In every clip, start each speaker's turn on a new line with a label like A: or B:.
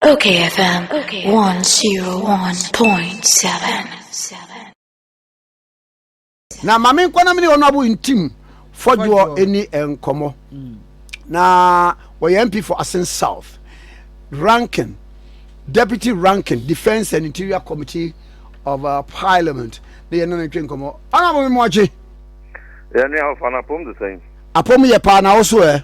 A: Okay FM
B: 101.7 na ma me nkɔ na me ne ɔno abo ntim fɔdwoɔ ɛni nkɔmmɔ na wɔyɛ mp for asen south ranking deputy ranking defence and interior committee of uh, parliament na yɛne no ntwe nkɔmmɔ ɔno abo me moakye yɛne
C: ahofa no apom de sɛn apom yɛ paa na wo
B: so ɛ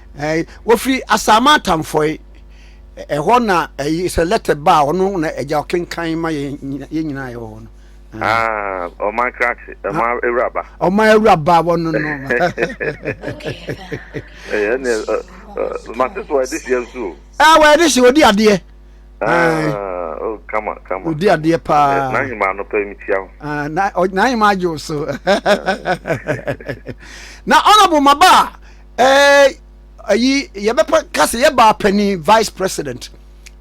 C: Ɛɛ, wɔfiri
B: Asaama Atamfɔe. Ɛhɔ na ɛyi sɛ lɛtɛ ba a, ɔno na agya ɔkenkan ma yɛn nyina- yɛn nyinaa a yɛwɔ hɔ no. Ɛɛ, Ah,
C: ɔman krakye, ɔman awuraba. ɔman awuraba
B: wɔ no no. Ɛyɛ ɛne ɛ- ɛ-
C: ɛ- mate so wɔde hyia nso o. Ɛɛ, wɔyɛ de hye, ɔdi
B: adeɛ. Ɛɛ, Ah,
C: oh, kama kama. Odi kama. adeɛ paa.
B: Ɛɛ, na nhema no pɛ
C: mekyia wo. ah, na ɔ- na yɛ
B: ma agye wo so. Na honorable maba a Eh, ayi yɛbɛpɛ ka sɛ yɛbaa panin vice president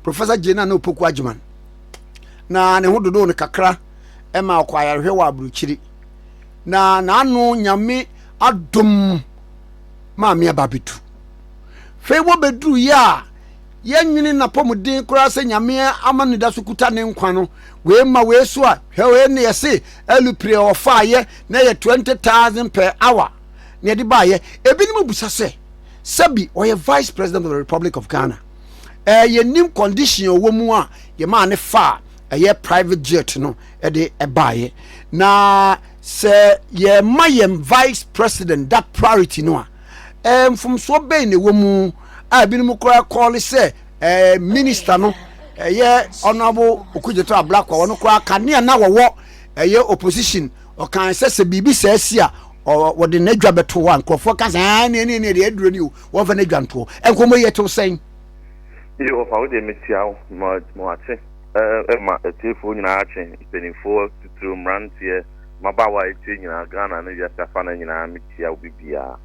B: professor gyina na opoku agyeman na ne ho dodo no kakra ɛma ɔkɔ ayarehwɛ wɔ aburukyiri na n'ano nyame adom maame aba bɛtu fei wɔbɛduru yɛ a yɛnwene napɔmuden koraa sɛ nyame ama ne da so kuta ne nkwa no wei ma wei so a hwɛ wei ne yɛse alupire ɔfaayɛ na yɛ 20,000 per hour na yɛde baayɛ ebinom busa sɛ sɛbi ɔyɛ vice president of the republic of ghana ɛɛ yɛnim condition ɔwɔ mu a yɛmaa ne fa a ɛyɛ private jet no ɛde ɛbaayɛ na sɛ yɛma yɛn vice president that priority no a ɛɛ mfomsoɔ bɛn na ɛwɔ mu a ebinom koraa kɔɔle sɛ ɛɛ minister no ɛyɛ honourable okudzeto ablakwa wɔn koraa kanea na wɔwɔ ɛyɛ opposition Ɔkae sɛ sɛ biribi saa si a, wɔde n'adwa bɛto hɔ a nkurɔfoɔ ka sɛ, aa ne ɛne ɛne ɛde aduro ni o, wɔmfa n'adwa nto hɔ. Nkɔmmɔ yi ɛtew sɛn? Yehofa,
C: wo deɛ metia wo, ma w'ate ma atiefoɔ nyinaa twe, mpanimfoɔ, titiriw mmeranteɛ, mmabaawa a ɛtie nyinaa, Ghana ne wiase afanan nyinaa, metia obi biara.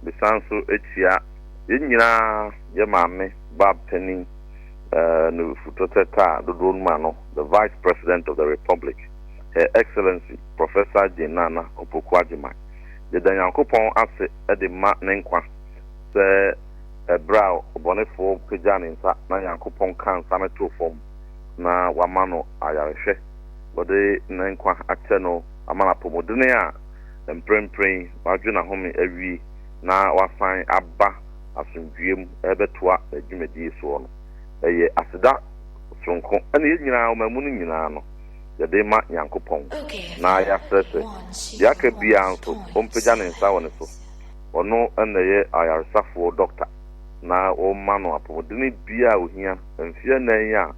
C: Mesan nso tia yɛn nyinaa, yɛn maame ba panin, ɛɛ, nufutɔtɛtɛ a dodoɔ num ano, the Vice President of the Republic. Her Excellency Professor Jane Nana Opoku Agyemang yɛda Nyankopɔn ase de ma ne nkwa sɛ ɛberɛ a ɔbɔnefoɔ pagyaa ne nsa na Nyankopɔn kaa nsa no too fam na wama no ayarehwɛ, wɔde ne nkwa akyɛ no ama no apɔmudene a mprempren yi wadwo n'ahome awie na wasan aba asomdwoeɛ mu rebɛtoa n'adwumadie soɔ no ɛyɛ aseda soronko ɛne yɛn nyinaa ɔmamu no nyinaa no. yɛde rema Nyankopɔn, na yɛasrɛ sɛ, deɛ aka biara nso, ɔmpagya ne nsa wɔ ne so. Ɔno na ɛyɛ ayaresafoɔ dɔkta, na wɔma no apɔmudene biara a ɔhia, mfeɛ nnan yi a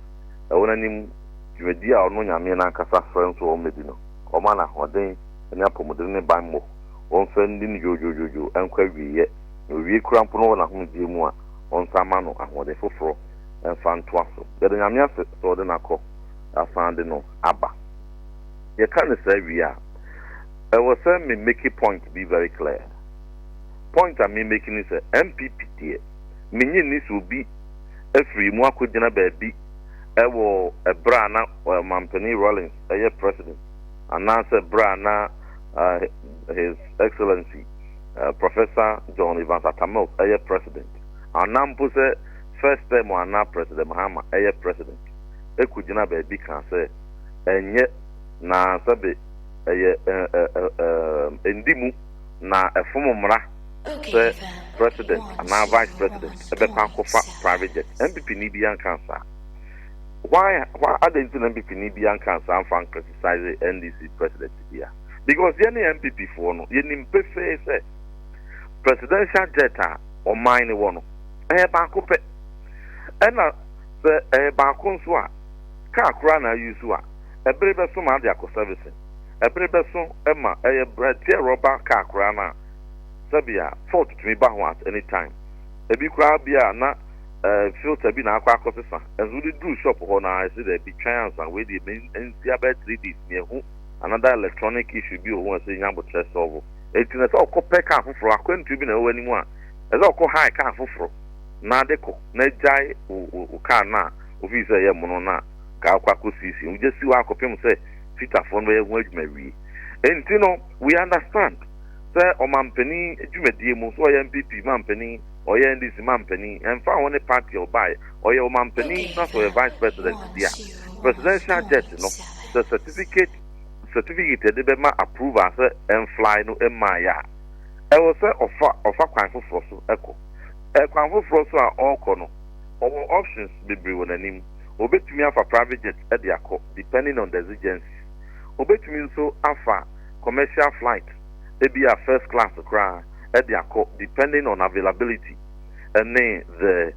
C: ɛwɔ n'anim, dwumadie a ɔno Nyame no ankasa frɛ no sɛ ɔmmɛdi no, wɔma no ahoɔden ne apɔmudene ne banmmɔ, wɔmfa nni no dwoodwoodwoodwo nkɔ awieɛ, na ɔwie koraa mpo no wɔ n'ahomegyeɛ mu a, wɔnsan mma no ahoɔden foforɔ mfa ntoa so. Yɛda Nyame ase sɛ ɔde no akɔ. asan de no aba. Yɛka no saa wie a, ɛwɔ sɛ me make point bi very clear. Point a me make ne sɛ, NPP deɛ, mennye nni sɛ obi afiri mu akɔgyina baabi wɔ ɛberɛ a na Ɔmampanin Rawlings yɛ President anaasɛ ɛberɛ a na His Excellency Professor John Evans Atta Mills yɛ President anaa mpo sɛ First Term anaa President Mahama yɛ President. kogyina baabi kaa sɛ, Ɛnyɛ, na sɛbe ɛyɛ ɛɛ nndi mu, na ɛfom mmara sɛ President anaa Vice President bɛkɔ akɔfa private jet. MPPni biara nkaa saa. Why, why, adɛn nti na MPPni biara nkaa saa mfa nkritisise NDC President biara? Because yɛne MPPfoɔ no, yɛnim pefee sɛ, Presidential jet a ɔman no wɔ no, ɛyɛ baako pɛ. Ɛna. Sɛ ɛyɛ baako nso a, car koraa na ayusu a, ɛbere bɛso ma ade akɔ sɛvese? Ɛbere bɛso ma ɛyɛ berɛ teɛ rɔba car koraa no a, sɛbea fault tumi ba ho at any time. Ɛbi koraa bi a na eh, filter bi na akɔ akɔsesa, ɛnso wode duru shop hɔ no ara ɛse daabi, twɛn ansa, wei deɛ me nsia bɛyɛ three days meahu another electronic issue bi wɔ ho a ɛsɛ nya aboterɛ solve. Enti na ɛsɛ ɔkɔ pɛ car foforɔ, akwantuo bi na ɛwɔ anim a ɛsɛ ɔkɔ hire car foforɔ. na de kɔ na gyae wo wo kar no a wofii sɛ ɛyɛ mono no a nka wokɔ akɔsiesie. Wogya si hɔ ara kɔpem sɛ fitafoɔ no bɛyɛ ho adwuma awie. Enti no we understand sɛ ɔmanpanin dwumadie mu, sɛ ɔyɛ NPP manpanin, ɔyɛ NDC manpanin, ɛmfa ho ne party a ɔbaeɛ, ɔyɛ ɔmanpanin na sɛ ɔyɛ vice president deɛ a, presidential jet no sɛ certificate certificate a yɛde bɛma approval sɛ ɛmfly no mmaeɛ a, ɛwɔ sɛ ɔfa ɔfa kwan foforɔ so kɔ. Kwan foforɔ so a ɔrekɔ no, ɔwɔ options bebree wɔ n'anim. Ɔbɛtumi afa private jet de akɔ, depending on the exigencies. Ɔbɛtumi nso afa commercial flight, ebia first class koraa, de akɔ, depending on availability ne the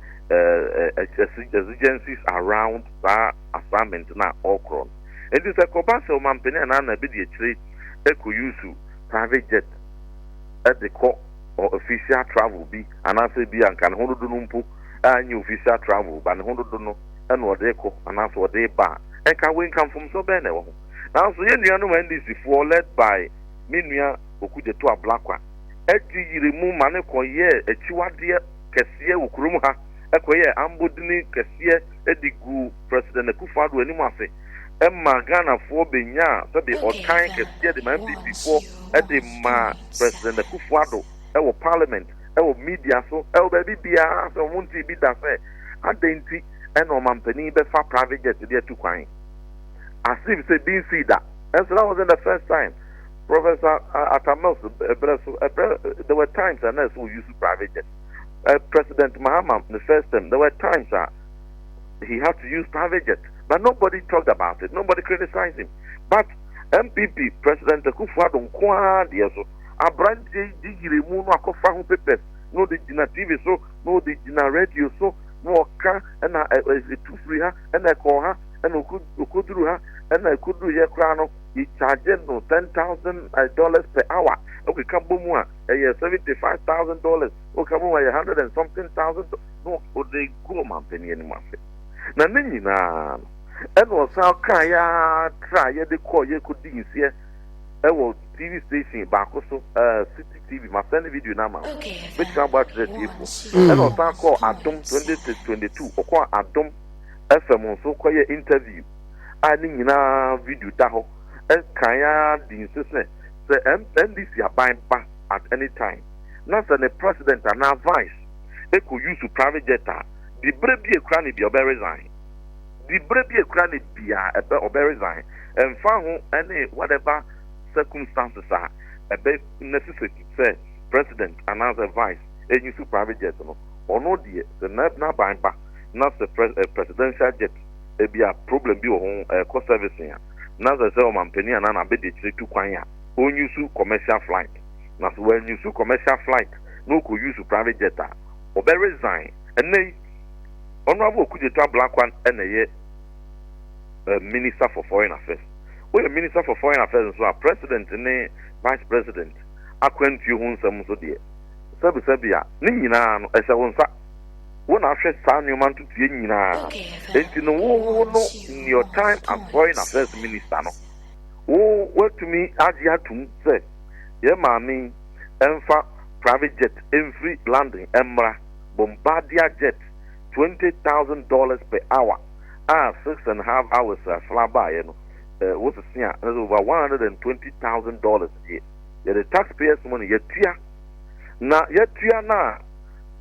C: exigencies around saa assignment no a ɔrekorɔ no. Enti sɛ ɛkɔba sɛ ɔmampanin anaa nana bi de akyire kɔ use private jet de kɔ, ɔ official travel bi anaasɛ ebi a nka ne ho dodo no mpo a nyɛ official travel ba ne ho dodo no na ɔde rekɔ anaasɛ ɔde reba a, nka wei nka mfomsoɔ bɛn na ɛwɔ ho? Nanso yɛn nuanom NDC foɔ led by me nua Okudzeto Ablakwa agye yiri mu ma no kɔ yɛɛ akyiwadeɛ kɛseɛ wɔ kurom ha, kɔ yɛɛ ambɔdini kɛseɛ de guu President Akufo-Addo anim ase. ɛmaa Ghanafoɔ bɛnyaa sɛdeɛ ɔtan kɛseɛ de ma NPPfoɔ de ma President Akuffo Addo wɔ Parliament, wɔ media so, wɔ baabi biara sɛ wɔn ntee bi da sɛ adɛn nti na ɔmanpanin bɛfa private jet de atu kwan as if sɛ bi nsii da. Nso that wasn't the first time Professor Atta Mills berɛ so, ɛberɛ there were times a na ɛsɛ use private jet. President Mahama ne first term there were times a. he had to use private jet but nobody talked about it nobody criticized him but npp president akufo ado nko ara deɛ so aberanteɛ yi gye yere mu no akɔfa ho papers na ɔde gyina tv so na ɔde gyina radio so na ɔka ɛna ɛtu firi ha ɛna ɛkɔɔ ha ɛna ɔkɔduru ha ɛna ɛkɔduru yɛ koraa no he charged no ten thousand eh, dollars per hour ɔkeka bɔ mu a ɛyɛ seventy five thousand dollars ɔkeka bɔ mu a ɛyɛ hundred and something thousand na ɔde gu ɔmanpanin anim ase, na ne nyina ara no, ɛna ɔsan kaaeɛ ara traaeɛ de kɔeɛ kɔdii nseɛ ɛwɔ TV station baako so, ɛɛ City TV, masɛne video no ama wo, mɛtumi abɔ akyerɛ atiefoɔ, ɛna ɔsan kɔɔ Adom 2022, ɔkɔɔ Adom FM nso kɔyɛɛ interview a ne nyina ara video da hɔ, ɛkaaeɛ ara dii nse sɛ sɛ NDC aban ba at any time na sɛ ne president anaa vice, ekɔ use private jet a, dibre bi ekura ne bia ɔbɛ resign. Dibre bi ekura ne bia ɛbɛ ɔbɛ resign ɛnfa ho ɛne whatever circumstances a ɛbɛ necessity sɛ president anaa sɛ vice euse private jet no. Ɔno deɛ sɛ n'aban ba na sɛ presidential jet ebia problem bi wɔ ho ɛkɔ servicing a na sɛ sɛ ɔmanpanin anaa n'abadiakyire tu kwan a ɔnuse commercial flight. na sɛ wan use commercial flight na ɔkɔ use private jet a ɔbɛ resign ɛnɛ yi honourable Okudzeto Ablakwa na ɛyɛ minister for foreign affairs woyɛ minister for foreign affairs nso a president ne vice president akwantuo ho nsɛm nso deɛ sɛbi sɛbi a ne nyinaa no ɛhyɛ wo nsa wo na ahwɛ saa nneɛma ntotoeɛ nyinaa enti no wo wo no in your time as foreign affairs minister no wo watumi agye atum sɛ Yɛn maame yi ɛmfa private jet ɛmfiri London ɛmmra, Bombardier jet, twenty thousand dollars per hour a six and half hours a sra baeɛ no eh, wosese a na sɛ over one hundred and twenty thousand dollars deɛ yɛde taxpayers money yɛtua na yɛtua no a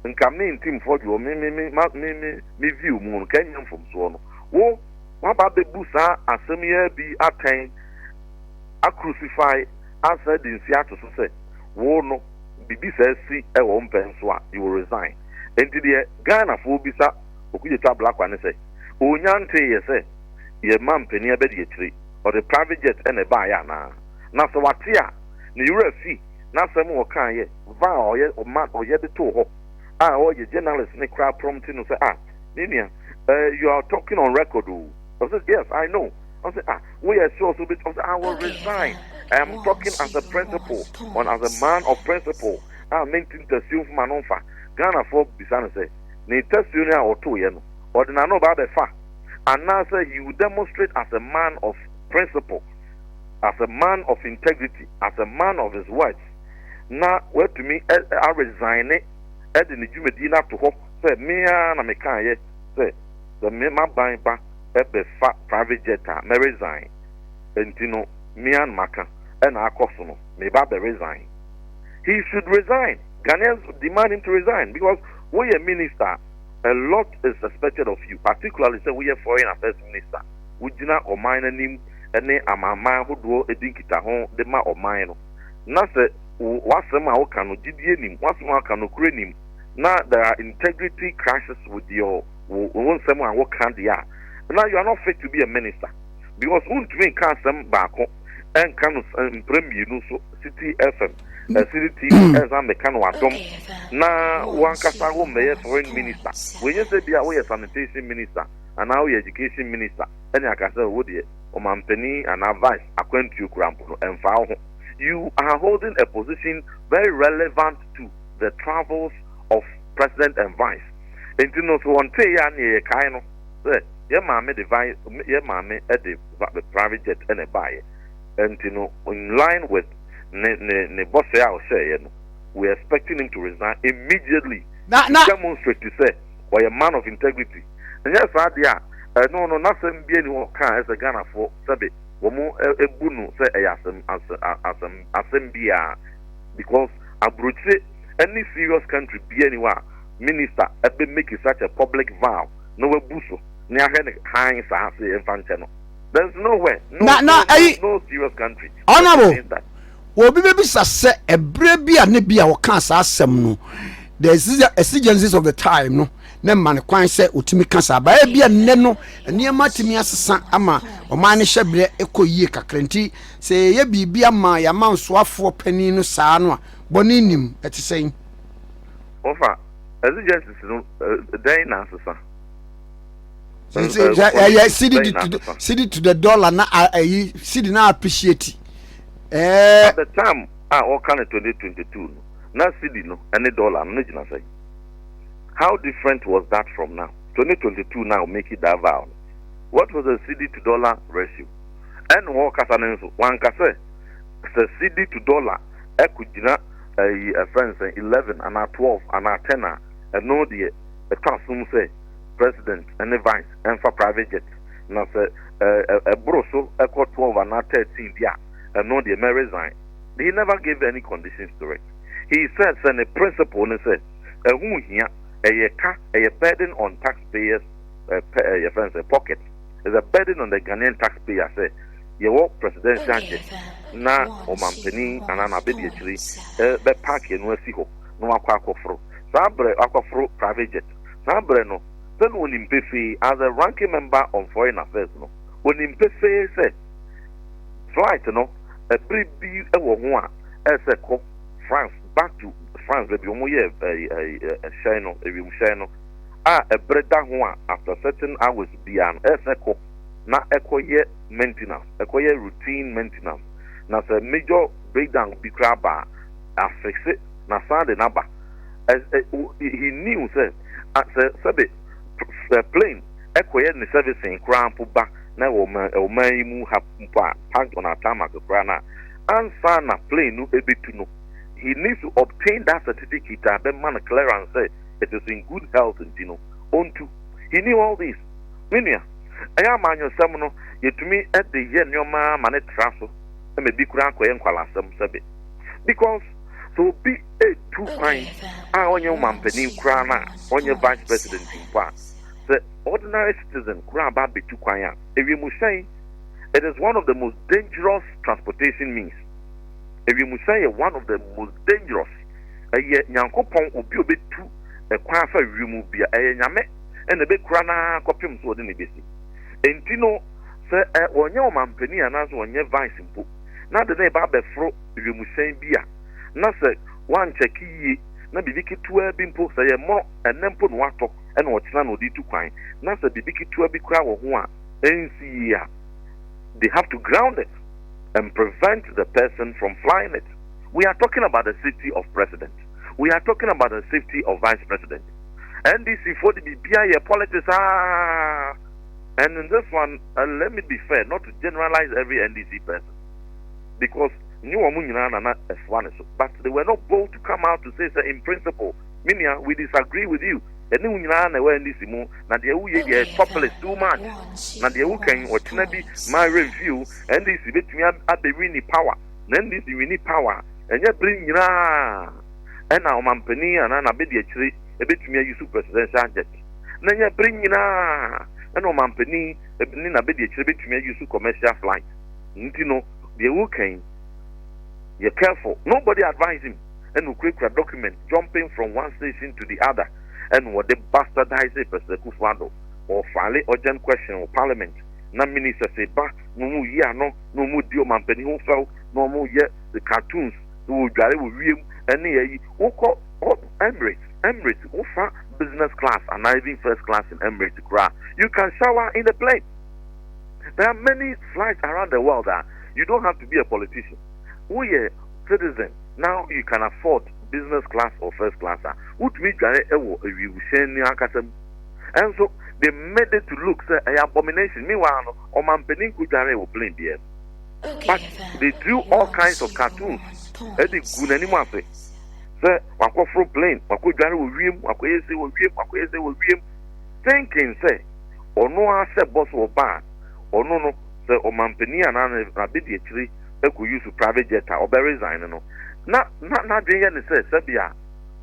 C: nka me ntim fɔdwoɔ me me me ma- me me me view mu no nka ɛnyɛ mfomsoɔ no wo waba bɛbu saa asɛm yi ara bi atɛn acrucify ansa de nsi ato so sɛ wo no bibi saa si wɔ wo mpɛ nso a you will resign enti deɛ Ghana foɔ bisa Okugyatu Ablakwa ne sɛ onya ntee yɛ sɛ yɛ ma mpanin abɛdi akyire ɔde private jet na ɛbaa yɛ anaa na sɛ wate a ne wura fi n'asɛm a ɔkaa yɛ va a ɔyɛ ɔma ɔyɛ de too hɔ a ɔyɛ journalist ne koraa prompt no sɛ ah me nua eh you are talking on record o ɔsɛ yes I know. Ɔsɛ ah woyɛ sure so bit ɔsɛ I will resign I am talking as a principal on as a man of principle a ah, menti ntasuo mfom ano mfa Ghanafoɔ bisa no sɛ ne tasuo no a ɔtoeɛ no ɔde n'ano ba abɛfa anaasɛ he will demonstrate as a man of principle as a man of integrity as a man of his words na watumi aresign ne ɛde ne dwumadie no ato hɔ sɛ mea na mekaeɛ sɛ sɛ maban ba bɛ fa private jet a mɛ resign nti no me an maka ɛna akɔ so no me ba bɛ resign he should resign Ghanaians demand him to resign because wo yɛ minister a lot is expected of you particularly sɛ wo yɛ foreign affairs minister wo gyina ɔman no anim ɛne amanman hodoɔ ɛdi nkitaho de ma ɔman no na sɛ wo w'asɛm a wo ka no gyidie nim w'asɛm a wo ka nokorɛ nim na there are integrity crisis with your wo wo nsɛm a wo ka deɛ a na you are not fit to be a minister because wo ntumi nka asɛm baako ɛnka no mpere mmienu nso city fm ɛsiri tv ɛnsan meka no adom na wankasa wo mmɛyɛ foreign minister wɔnyɛ sɛ bia woyɛ sanitation minister anaa woyɛ education minister ɛne aka sɛ wo deɛ ɔmampanin anaa vice akwantuo kura mpo no ɛmfa wo ho you are holding a position very relevant to the travels of president and vice Enti no, so wɔntee yɛn a nea yɛkae no sɛ yɛn maame de vi yɛn maame de va private jet na ɛbaeɛ. Enti no, in line with ne ne ne bɔsɛ a ɔhyɛeɛ no, we expecting him to resign immediately Na to na demonstrate sɛ ɔyɛ man of integrity. Ɛnyɛ saa deɛ a, ɛno no n'asɛm biara nni hɔ ka a ɛsɛ sɛ Ghanafoɔ sɛbe wɔn ɛ bu no sɛ ɛyɛ asɛm asɛ a asɛm asɛm biara because aburokyire ne serious country biara nni hɔ a minister bɛ make such a public vow na wabu so na yɛahwɛ no hann saa sɛ yɛmfa nkyɛ no? There's nowhere, no, na, na, no, ayi, no, no serious country honorable,
B: obi bɛbisa sɛ ɛberɛ bi a ne bi a ɔkaa saa asɛm no the exigencies of the time no na mma no kwan sɛ ɔtumi ka saa baɛ bi a nnɛ no nneɛma tumi asesa ama ɔman no hyɛ berɛ ɛkɔ yie kakra nti sɛ yɛyɛ biribi ama yɛamansoafoɔ panin no saa no a bɔne nim ɛte sɛn wɔfa
C: exigencies no dɛn na asesa. ɛyɛ
B: city di to city to the dollar na ayi city na appreciate. ɛɛ.
C: at the time a wɔka no twenty twenty two no na city no ɛne dollar no ne gyina sɛ how different was that from now twenty twenty two now make it that vow what was the city to dollar ratio ɛne wɔn kasa no nso wɔn ankasa sɛ city to dollar ɛkò gyina. Ayi ɛfrɛ no sɛn eleven anaa twelve anaa ten a ɛno deɛ ɛtɔ asom sɛ president ne vice ɛmfa private jet na sɛ ɛboro so ɛkɔ twelve anaa thirteen bi a ɛno deɛ mɛ resign he never gave any conditions to it he said sɛ ne principle ne sɛ ɛho hia ɛyɛ ka ɛyɛ burden on tax payers ɛɛ yɛfrɛ no sɛ pocket is a burden on the Ghanaian tax payer sɛ yɛwɔ presidential jet na ɔmanpanin anaa n'abadiakyiri bɛ park ɛno asi hɔ na wakɔ akɔforo saa brɛ wakɔforo private jet saa brɛ no sɛ na ɔnim pefee as a ranking member on foreign affairs no ɔnim pefee sɛ flight no ɛbere bi wɔ ho a ɛsɛ kɔ France back to France baabi wɔn yɛ ɛhyɛn no ɛwiemhyɛn no a ɛbere da ho a after certain hours biara no ɛsɛ kɔ na ɛkɔ yɛ maintenance, ɛkɔ yɛ routine maintenance, na sɛ major breakdown bi koraa ba a, afixe na san de no aba. He knew sɛ, sɛ sɛbe plane ɛkɔ yɛ ne servicing koraa mpo ba na ɛwɔ ɔman, ɔman yi mu ha mpo a, parked on our tarmac koraa no a, ansa na plane no ɛbɛtu no, he needs to obtain that certificate a ɛbɛma no clearance sɛ it is in good health nti no, ɔntu. He knew all this. Me nua, ɛyɛ a amanyɔsɛm no, yetumi de yɛ nneɛma ma no tra so ma ebi koraa kɔyɛ nkwalaasɛm sɛbe. Because sɛ obi retu kwan a ɔnyɛ wo manpanin koraa no a, ɔnyɛ vice president mpo a, sɛ ordinary citizen koraa ba betu kwan a, ewiemhyɛn, it is one of the most dangerous transportation means. Ewiemhyɛn yɛ one of the most dangerous. Ɛyɛ Nyankopɔn obi a obetu kwan afa wiemu bia, ɛyɛ Nyame. na ɛbɛkura no ara kɔpem sɛ wɔde no bɛsi. Enti no, sɛ ɛ, wɔnyɛ ɔmampanin anaasɛ wɔnyɛ vice mpo, na de no reba abɛforo wiemhyɛn bi a, na sɛ wɔankyɛke yie, na biribi ketewaa bi mpo, sɛ ɛyɛ mmorɔ, ɛnnɛ mpo na wɔatɔ, ɛna ɔkyena na wɔde retu kwan, na sɛ biribi ketewaa bi koraa wɔ ho a ɛnsi yie a, they have to ground it and prevent the person from flying it. We are talking about the safety of President. we are talking about the safety of vice president NDC foɔ de biribiara yɛ politics aa And in this one, uh, let me be fair, not to generalize every NDC person, because but they were not bold to come out to say, sir, in principle, Minia, we disagree with you. And you nyinaa na ɛwɔ ndc mu na deɛ woyɛ yɛ topless too much na deɛ wokɛn ɔkyena bi ma remfew ndc bɛtumi abɛwi ne power Na NDC winni power a, ɛnyɛ bere nyinaa na ɔmanpanin anaa n'abadiakyiri betumi ayi so presidential jet, na ɛnyɛ bere nyinaa na ɔmanpanin ne n'abadiakyiri betumi ayi so commercial flight. Nti no, deɛ woreka yi, yɛ careful. Nobody advise him ɛna okurakura document jumping from one station to the other ɛna ɔde bastardise President Akufo-Addo. Ɔfile urgent question wɔ parliament na ministers ba na wɔn reyi ano. na wɔn di ɔmanpanin ho fɛw na wɔn yɛ the cartoons na wɔ dware wɔ wiem ɛne ayi wo kɔ kɔ Emirates Emirates wo fa business class anaa even first class in Emirates koraa you can shower in the plane there are many flights around the world a you don't have to be a politician wo yɛ citizen now you can afford business class or first class a wotumi dware ɛwɔ awiewuhyɛn ni ankasa mu ɛnso they made it to look sɛ ɛyɛ abomination meanwhile no ɔmanpanin ko dwaree wɔ plane biaa mu but they drew all kinds of cartoons de guu n'anim ase sɛ wakɔ foro plane, wakɔ dware wɔ wiem, wakɔ yɛ sei wɔ wiem, wakɔ yɛ sei wɔ wiem thinking sɛ ɔno ara sɛ boss wɔ ba a ɔno no sɛ ɔmanpanin anaa n'abadiakyiri kɔ use private jet a ɔbɛ resign no na na n'adwene yɛ ne sɛ sɛbea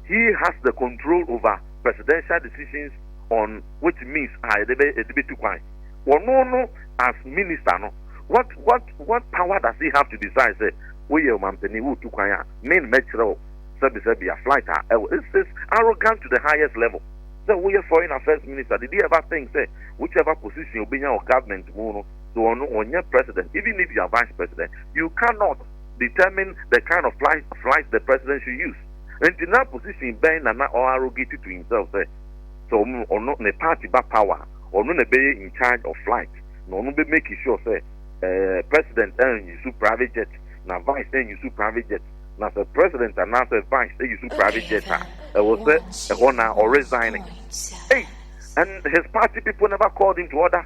C: he has the control over presidential decisions on which means a yɛde bɛ yɛde bɛtu kwan. Ɔno no as minister no what what what power does he have to decide sɛ wo yɛ ɔmanpanin wo tu kwan a me mɛ kyerɛ wo sɛbi sɛbi a flight a ɛwɔ it's it's arrogant to the highest level sɛ wo yɛ foreign affairs minister did he ever think sɛ whichever position obenya wɔ government mu no so ɔno ɔnyɛ president even if you are vice president you cannot determine the kind of flight flight the president should use nti na position bɛn na na ɔ arrogate to himself sɛ sɛ ɔno ne party ba power ɔno na ɛbɛyɛ in charge of flight na ɔno bɛ make sure sɛ eh, president eh, use private jet na vice eh, use private jet na sɛ president anaasɛ vice eh, use private jet a ɛwɔ sɛ ɛhɔ na ɔresign hey, and his party people never called him to order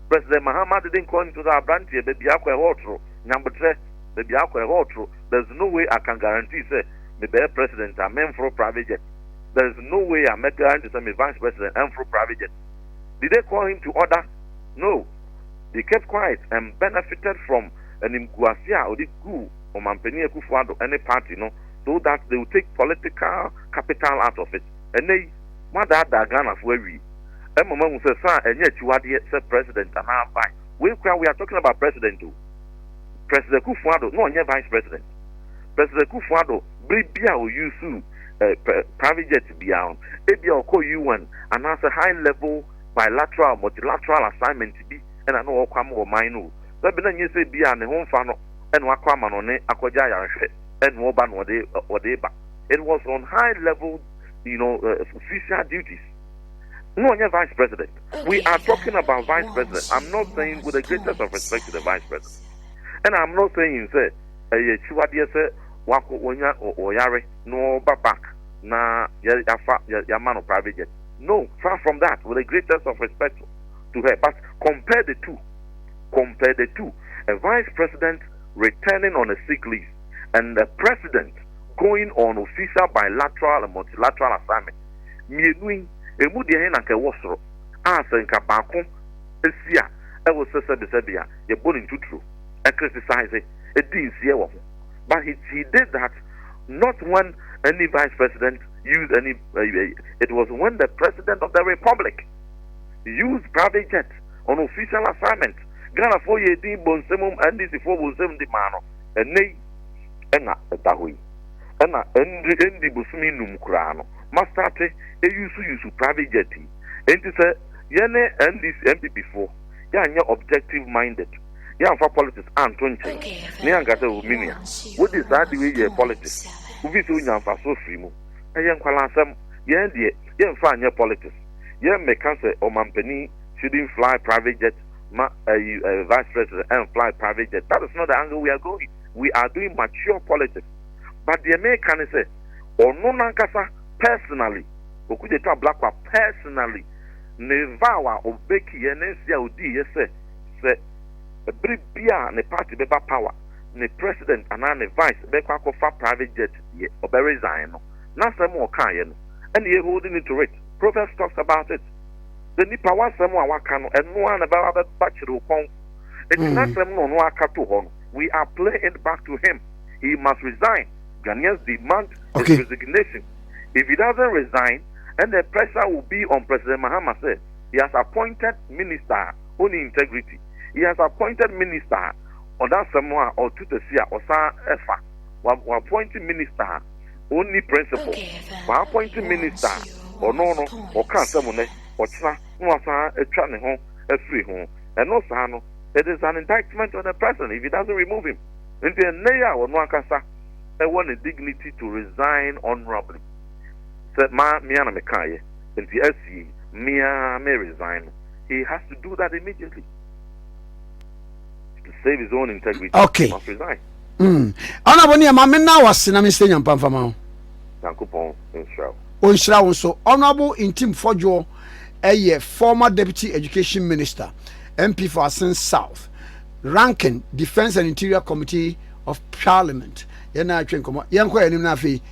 C: president mahama didn't call him to order abranteɛ baabi akɔ ɛhɔ ɔtoro nyambotrɛ baabi akɔ ɛhɔ ɔtoro there's no way i can guarantee sɛ mebɛyɛ president a memforo private jet there's no way a mɛ guarantee sɛ me vice president ɛmforo private jet Did they call him to order? No. They kept quiet and benefited from animguase a ɔde guu Ɔmanpanin Akufo-Addo ne party no so that they will take political capital out of it. Ɛnnɛ yi, moadaadaa Ghanafo awie. Ɛma moahu sɛ saa ɛnyɛ akyiwadeɛ sɛ President anaa Vice. Wei koraa we are talking about President o. President Akufo-Addo na ɔnyɛ Vice President. President Akufo-Addo bere bi a ɔusuu. eh, private jet biara no ebia ɔkɔ UN anaasɛ high level bilateral multilateral assignment bi ɛna na ɔkɔ ama ɔman no o bɛbi na nyɛ sɛ bi a ne ho mfa no ɛna wakɔ ama no ne akɔgya ayarehwɛ ɛna ɔba na ɔde ɔde ba it was on high level you know uh, official duties no ɔnyɛ vice president we are talking about vice president i'm not saying with the greatest of respect to the vice president and i'm not saying sɛ Ɛyɛ akyiwadeɛ sɛ wakɔ wanya ɔyare na ɔba back na yafa yama no private jet no far from that with the greatest of respect to her but compare the two compare the two a vice president returning on a sick leave and the president going on official bilateral and multilateral assignment mmienu yi emu deɛ he na nka ɛwɔ soro a sɛ nka baako si a ɛwɔ sɛ sɛbesɛbe a yɛbɔ ne ntuturo. ɛkritisize, ɛdi nseɛ wɔ ho but he he did that not when any vice president used any it was when the president of the republic used private jet on official assignment Ghana foɔ yɛ din bɔ nsɛm mu NDC foɔ bɔ nsɛm di maa no ɛnɛ yi ɛna ɛda hɔ yi ɛna ɛndi ɛndi bosomi num koraa no mastate ɛyusu yusu private jet yi ɛnti sɛ yɛne NDC MPP foɔ yɛanyɛ objective minded, yɛamfa politics anto nkyɛn, na yɛanka sɛ, Oh, me nua, wode saa ade wei yɛɛ politics, wofii sɛ wunya mfaso firii mu. Ɛyɛ nkwalaasɛm. Yɛn deɛ, yɛmfa nyɛ politics. Yɛmmɛka sɛ ɔmampanin shouldn't fly private jet ma ɛyi ɛɛ vice president ɛnfly private jet. That is not the angle we are going. We are doing mature politics. But deɛ meka ne sɛ, ɔno n'ankasa personally, Okudzeto Ablakwa personally, Ne vow a ɔbreakiiɛ ne nse a ɔdiiɛ sɛ sɛ bere biara a ne party bɛba power ne president anaa ne vice bɛkɔ akɔfa private jet deɛ ɔbɛ resign no n'asɛm a ɔkaaeɛ no ɛna yɛ holding you to it Proverbs talks about it sɛ nipa w'asɛm a waka no ɛno ara na ɛbɛba bɛba kyere wo kɔn enti n'asɛm no ɔno aka to hɔ no we are playing it back to him he must resign Ghanaians demand his resignation if he doesn't resign ɛnɛ pressure will be on President Mahama sɛ he has appointed minister a ɔnni integrity, he has appointed minister a ɔda asɛm a ɔto tasi a ɔsan ɛfa, w'appoint minister a ɔnni principle, w'appoint minister a ɔno no ɔka asɛm nnɛ, ɔkyena na wasan atwa ne ho afiri ho, ɛno saa no it is an indictment on the person if he doesn't remove him, nti ɛnnɛ yi a ɔno ankasa ɛwɔ ne dignity to resign honourably. sɛ ma me ara na me kaeɛ nti asie yi me ara me resign no he has to do that immediately to save his own integrity okay. must resign mm. ɔna bɔ
B: ne ɛma me na wase na mesɛ nyampa mfama ho nyankopɔn
C: nhyira wo ɔnhyira wo nso
B: honorable ntim fɔdwoɔ ɛyɛ former deputy education minister mp for asen south ranking defence and interior committee of parliament yɛn na atwe nkɔmɔ yɛn kɔ yɛn anim na afei